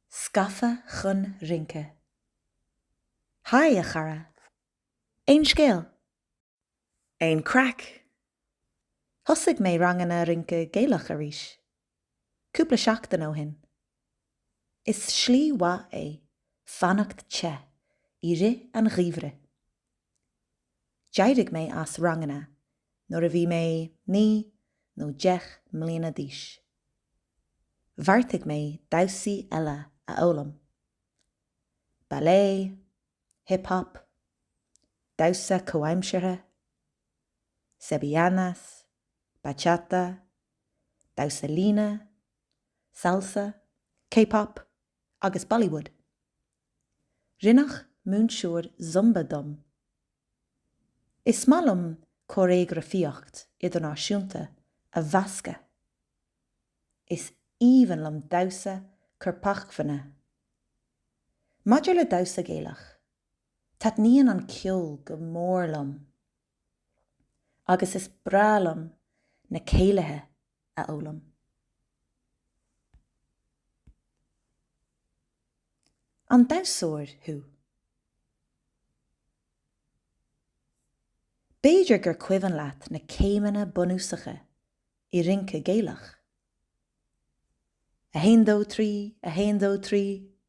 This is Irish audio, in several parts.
Scafa chun rince. Haigh, a chara! Aon scéal? Aon craic? Thosaigh mé ranganna rince Gaelach arís. Cúpla seachtain ó shin. Is slí mhaith é fanacht te i rith an gheimhridh. D'éirigh mé as ranganna nuair a bhí mé naoi nó deich mbliana d'aois. Bheartaigh mé damhsaí eile a fhoghlaim, ballet, hip hop, damhsa comhaimseartha, sevillanas, bachata, damhsa líne, salsa, K-pop agus Bollywood. Rinneadh múinteoir Zumba dom. Is maith liom cóiréagrafaíocht idirnáisiúnta a mheascadh. Is aoibhinn liom damhsa corpacmhainne. Maidir le damhsa Gaelach, taitníonn an ceol go mór liom. Agus is breá liom na céilithe a fhoghlaim. An damhsóir thú? B'fhéidir gur cuimhin leat na céimeanna bunúsacha i rince Gaelach? A haon dó trí, a haon dó trí.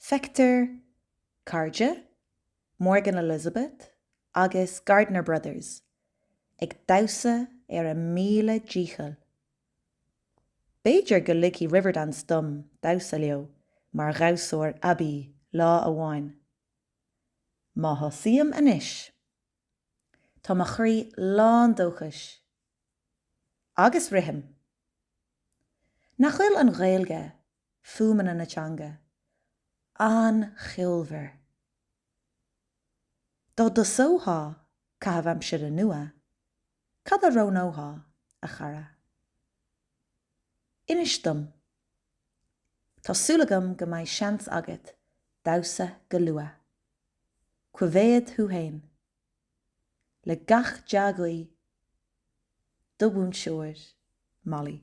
Feictear Cairde, Morgan Elizabeth agus Gardiner Brothers ag damhsa ar a míle dícheall. B'fhéidir go ligfidh Riverdance dom damhsa leo mar dhamhsóir aibí lá amháin. Má thosaím anois, tá mo chroí lán dóchais. Agus rithim. Nach bhfuil an Ghaeilge fuaimeanna na teanga. An-cheolmhar. Dá dtosóthá caitheamh aimsire nua, cad a roghnóthá, a chara? Inis dom. Tá súil agam go mbeidh seans agat damhsa go luath. Coimhéad thú fhéin. Le gach dea-ghuí, do mhúinteoir, Molly.